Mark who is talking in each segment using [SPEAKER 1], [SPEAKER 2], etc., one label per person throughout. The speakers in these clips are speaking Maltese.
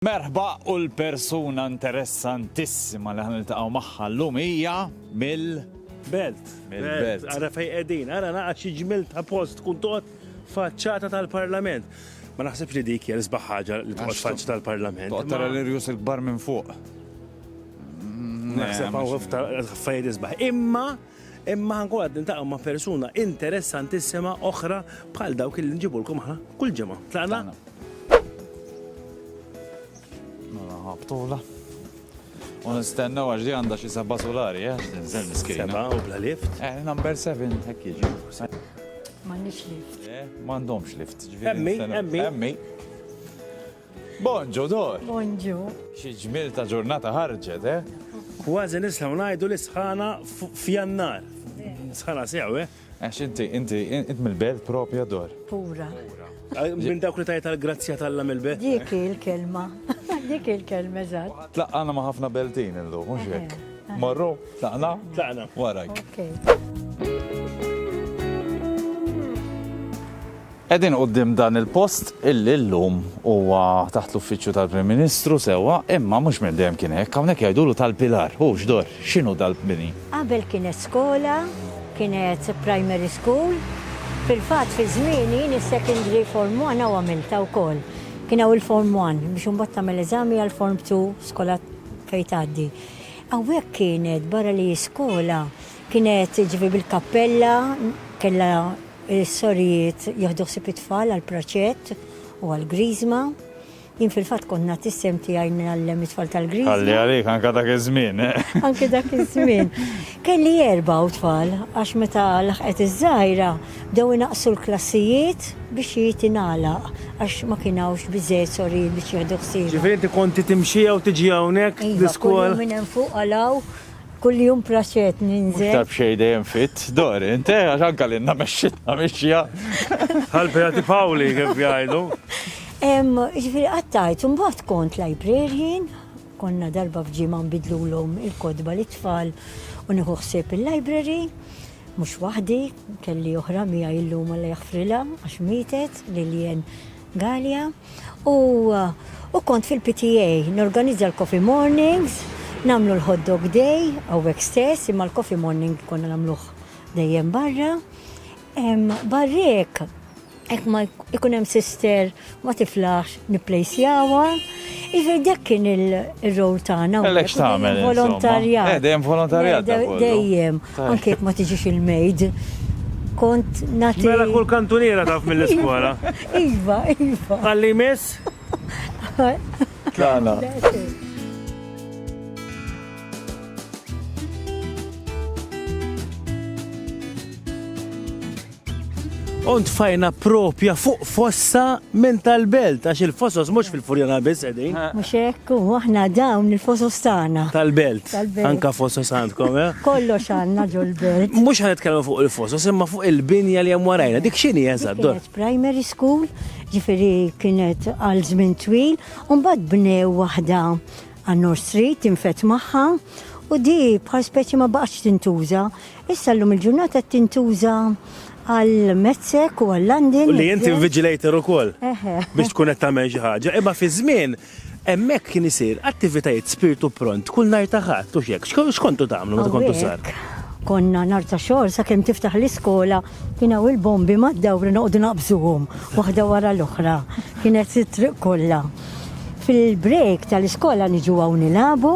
[SPEAKER 1] Merħba u l-persuna interessantissima li ħa niltaqgħu magħha llum hija mill Belt. Mill-belt.
[SPEAKER 2] Ara fej qegħdin, ara naqa' xi ġmil ta' post tkun toqgħod faċċata tal-Parlament. Ma naħsibx li dik hija l-isbaħ ħaġa li toqgħod faċċa tal-Parlament. Toqgħod tara l-irjus il-kbar
[SPEAKER 1] minn fuq. Naħseb
[SPEAKER 2] hawn f'ta' affarijiet isbaħ. Imma Imma ħankunu qed niltaqgħu ma' persuna interessantissima oħra bħal dawk li nġibulkom aħna kull ġimgħa. Tlaqna?
[SPEAKER 1] Mela ħabtula. U nistennew għax di għandha xi seba' solari, eh? Tinżel miskina. Seba' u bla lift.
[SPEAKER 2] Eh, number
[SPEAKER 1] 7 hekk jiġi. M'għandix
[SPEAKER 3] lift. Eh, m'għandhomx lift.
[SPEAKER 1] Emmi, emmi. Emmi. Bonġu Dor! Bonġu! Xi
[SPEAKER 3] ġmiel ta'
[SPEAKER 1] ġurnata ħarġet, eh? Kważi
[SPEAKER 2] nistgħu ngħidu li sħana f'Jannar. Sħana sew, eh? Għax inti, inti,
[SPEAKER 1] int mill-belt propja Dor. Pura.
[SPEAKER 3] Minn
[SPEAKER 2] dawk li tajt għal-grazzja tal-lam il-belt. Dik il-kelma.
[SPEAKER 3] Dik il-kelma, eżatt. Tlaqqana ma' ħafna
[SPEAKER 1] beltin illum, mhux hekk. Morru, tlaqna? Tlaqna. Warajk. Qegħdin quddiem dan il-post illi llum huwa taħt l-Uffiċċju tal-Prim Ministru, sewwa, imma mhux minn dejjem kien hekk. Hawnhekk jgħidulu tal-Pilar. Hu x'dor? X'inhu dal-bini? Qabel kienet
[SPEAKER 3] skola, kienet primary school. Fil-fatt fi żmieni jien is-secondary form one hawn għamiltha wkoll. Kien hawn il-form one biex imbagħad tagħmel eżami għall-form two skola fejn tgħaddi. Hawnhekk kienet barra li hi skola kienet jiġifieri bil-kappella kellha Is-sorijiet jieħdu ħsieb it-tfal għal praċett u għal griżma. Jien fil-fatt kont nagħti s-sehem tiegħi ngħallem it-tfal tal-griżma. Ħalli għalik, anke dak
[SPEAKER 1] iż-żmien. Anke dak
[SPEAKER 3] iż-żmien. Kelli erba' u tfal għax meta laħqet iż-żgħira bdew inaqqsu l-klassijiet biex hi tingħalaq għax ma kien hawnx biżżejjed sorijiet biex jieħdu ħsiebha. Ġifieri inti konti timxi
[SPEAKER 2] jew tiġi hawnhekk l-iskola? Iva, kuljum minn hemm fuq għal
[SPEAKER 3] hawn. Kuljum praxet ninżel. Iktar b'xej dejjem fit,
[SPEAKER 1] dor, inte, eh, għax anka l-inna meċċitna meċċija. Għalbi
[SPEAKER 2] għati fawli, kif jgħajdu.
[SPEAKER 3] Ġifiri għattajt, un bat kont librarian, konna darba fġima nbidlu l-om il-kodba li tfal u nieħu ħsieb il-library, mux wahdi, kelli oħra mija illum għalla jaħfrila, għax mietet li l-jen Galea, u u kont fil-PTA norganizza l-coffee mornings, nagħmlu l-hot dog day hawnhekk stess imma l-coffee morning konna nagħmluh dejjem barra. Barr'hekk hekk ma jkun hemm sister ma tiflaħx nipplejsjawha. Iva, dak kien il-rol tagħna. Għalek x'tagħmel?
[SPEAKER 1] Volontarjat. Eh, dejjem
[SPEAKER 3] volontarjat.
[SPEAKER 1] Dejjem,
[SPEAKER 3] anke jekk ma tiġix il-mejd. Kont nagħti. Mela kull kantuniera
[SPEAKER 2] taf mill-iskola. Iva,
[SPEAKER 3] iva. Għalli
[SPEAKER 2] miss?
[SPEAKER 1] Tlana.
[SPEAKER 2] Ont fajna propja fuq fossa minn tal-belt, għax il-fosos mux fil-furjana biss edin. Ah. Mux ekk, u
[SPEAKER 3] għahna dawn il-fosos tana. Tal-belt,
[SPEAKER 2] anka fosos għandkom, eh? Kollo xanna
[SPEAKER 3] ġol-belt. Mux għan itkellmu fuq
[SPEAKER 2] il-fosos, imma fuq il-binja li għam warajna, dik xini jazad, dor. Primary
[SPEAKER 3] school, ġifiri kienet għal żmien twil, un bad bnew wahda għan-North Street, infet maħħa, u di bħal speċi ma baqx tintuża, Issa llum il-ġurnata qed tintuża għal Metzek u għal London. U li inti
[SPEAKER 2] invigilator ukoll biex tkun qed tagħmel xi ħaġa. Imma fi żmien hemmhekk kien isir attivitajiet spirtu pront kull nhar ta' Ħadd u x'hekk. X'kontu tagħmlu meta kontu żgħar? Konna nhar
[SPEAKER 3] ta' xogħol sakemm tiftaħ l-iskola kien hawn il-bombi mad-dawri noqogħdu naqbżuhom waħda wara l-oħra. Kienet it-triq kollha. Fil-break tal-iskola niġu hawn nilagħbu.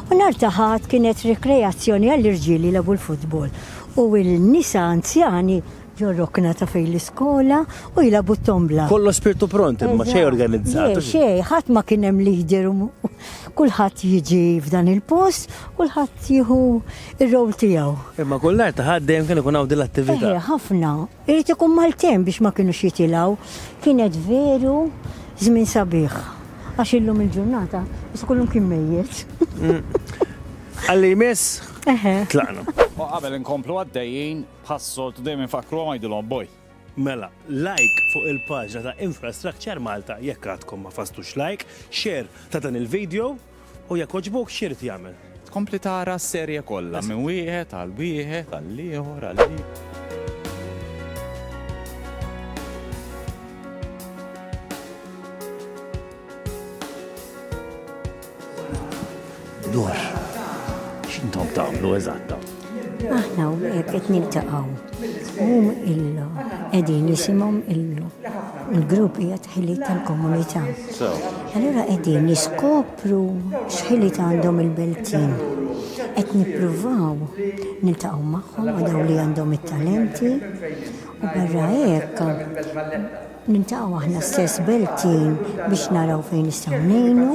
[SPEAKER 3] U nhar ta' Ħadd kienet rikreazzjoni għall-irġiel jilagħbu l-futbol u n-nisa anzjani ġo rokna ta' fejn l-iskola u jilagħbu t-tombla. Kollox spirtu pront
[SPEAKER 2] imma xejn organizzat. Le xejn, ħadd ma kien
[SPEAKER 3] hemm leader u kulħadd jiġi f'dan il-post, kulħadd jieħu r-role tiegħu. Imma kull nhar ta' Ħadd
[SPEAKER 2] dejjem kien ikun hawn din l-attività. Eħe, ħafna. Irid
[SPEAKER 3] ikun Maltin biex ma kinux jitilgħu. Kienet veru żmien sabiħ. Għax illum il-ġurnata biss ikun hemm kien mejjet.
[SPEAKER 2] Għalli jmiss, tlaqna. U qabel
[SPEAKER 1] inkomplu għaddejjin, bħas-soltu dejjem infakkru u ngħidulhom boj. Mela,
[SPEAKER 2] like fuq il-paġna ta' Infrastructure Malta jekk għadkom ma fasstux like, share ta' dan il-video. U jekk għoġbuk, x'irid jagħmel? Tkompli tara
[SPEAKER 1] s-serje kollha minn wieħed għal wieħed għal ieħor għal Dwar
[SPEAKER 2] x'intom tagħmlu eżatta? Aħna
[SPEAKER 3] u għek qed niltaqgħu. Hum illu qegħdin jisimhom illu. Il-grupp hija tħili tal-komunità. Allura qegħdin niskopru x'ħili għandhom il-Beltin. Qed nippruvaw niltaqgħu magħhom għadaw li għandhom it-talenti u barra hekk Niltaqgħu aħna stess Beltin biex naraw fejn nistgħu ngħinu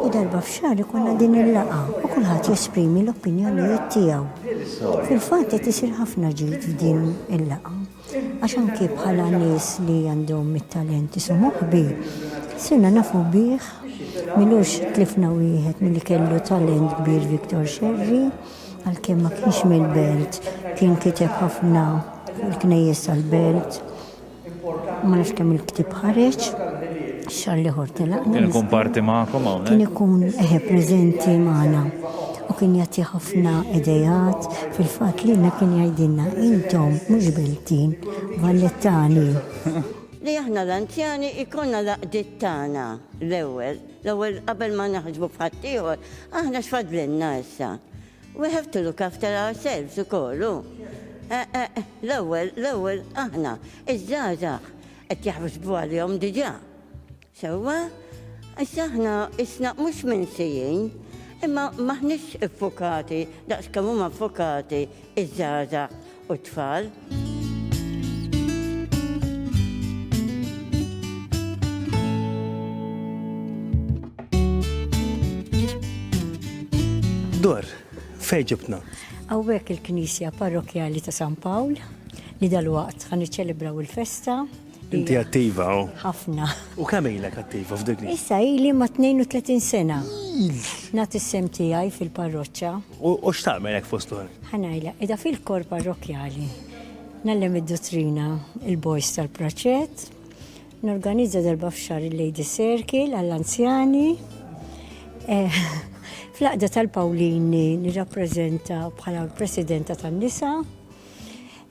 [SPEAKER 3] u darba f'xahar ikollna din il-laqgħa u kulħadd jesprimi l-opinjonijiet tiegħu. Fil-fatt qed isir ħafna ġid f'din il-laqgħa għax anki bħala nies li għandhom it-talent isu moħbi sirna nafu bih milux tlifna wieħed milli kellu talent kbir Viktor Xerri. Għalkemm ma kienx mill-Belt, kien kiteb ħafna fuq il-knejjes tal-Belt. Ma nafx kemm il-ktieb ħareġ, xar liħor tilaqna. Kien ikun parti magħkom
[SPEAKER 1] hawnhekk? Kien ikun eħe
[SPEAKER 3] preżenti magħna u kien jagħti ħafna idejat fil-fatt li kien jgħidilna intom mhux Beltin, Vallettani.
[SPEAKER 4] Li aħna l-anzjani jkollna l-għaqdiet tagħna l-ewwel. L-ewwel qabel ma naħsbu f'ħaddieħor, aħna x'fadlilna issa? We have to look after ourselves ukoll, hu? Eh, eh, l-ewwel, l-ewwel aħna, iż-żgħażagħ qed jaħsbu għalihom diġà. Sewwa? Issa aħna isna mhux minsijin, imma m'aħniex iffukati daqs kemm huma ffukati iż-żgħażagħ u t-tfal.
[SPEAKER 2] Dor, fej ġibna? Għawek
[SPEAKER 3] il-Knisja Parrokjali ta' San Pawl li dal-waqt għan iċelebraw il-festa Inti attiva,
[SPEAKER 2] oh. Ħafna. U kemm
[SPEAKER 3] ilek
[SPEAKER 2] attiva f'dik li? Issa ili ma' 32
[SPEAKER 3] sena. Nagħti sem tiegħi fil-parroċċa. U x'tagħmel
[SPEAKER 2] hekk fost oħra? Ħanajla, qiegħda fil-kor
[SPEAKER 3] parrokkjali. Nallem id-dottrina il-boys tal-praċett. Norganizza darba f'xar il-Lady Circle għall-anzjani. Eh, Fl-aqda tal-Pawlini nirrappreżenta bħala presidenta tan-nisa.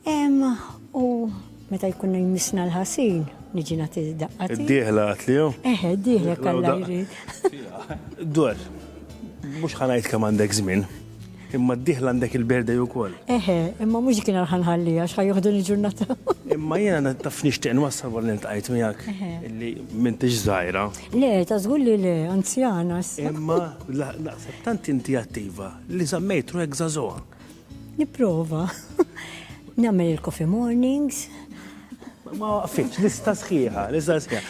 [SPEAKER 3] Hemm u meta jkunna jmissna l-ħasin, niġi nagħti daqqa. Id-dieħla għatliju?
[SPEAKER 2] Eħe, id-dieħla kalla
[SPEAKER 3] jrid. Dwar,
[SPEAKER 2] mhux ħanajt kemm għandek żmien. Imma d-dieħla għandek il-berdej ukoll. Eħe, imma mhux kien
[SPEAKER 3] għal ħanħallija x'ħa joħdu l-ġurnata. Imma jiena
[SPEAKER 2] taf nixtieq nwassal wara niltqajt miegħek li m'intix żgħira. Le, ta' żgur
[SPEAKER 3] li le, anzjana. Imma
[SPEAKER 2] naqseb tant inti attiva li żammejt ruħek żagħżugħa. Nipprova.
[SPEAKER 3] Nagħmel il-coffee mornings. Ma
[SPEAKER 2] waqfitx, lista sħiħa, lista sħiħa.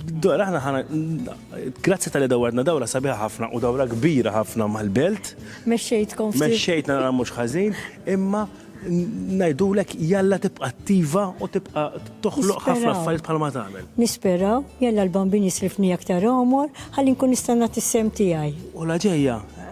[SPEAKER 2] Dora, aħna ħana, grazzi tal-li dawarna dawra sabiħa ħafna u dawra kbira ħafna mal-belt. Mexxejtkom ftit.
[SPEAKER 3] Mexxejtna nara mhux ħażin,
[SPEAKER 2] imma najdulek jalla tibqa attiva u tibqa toħloq ħafna affarijiet bħalma tagħmel. Nisperaw, jalla
[SPEAKER 3] l-bambin jislifni aktar omor, ħalli nkun nista' nagħti sem tiegħi. U la ġejja,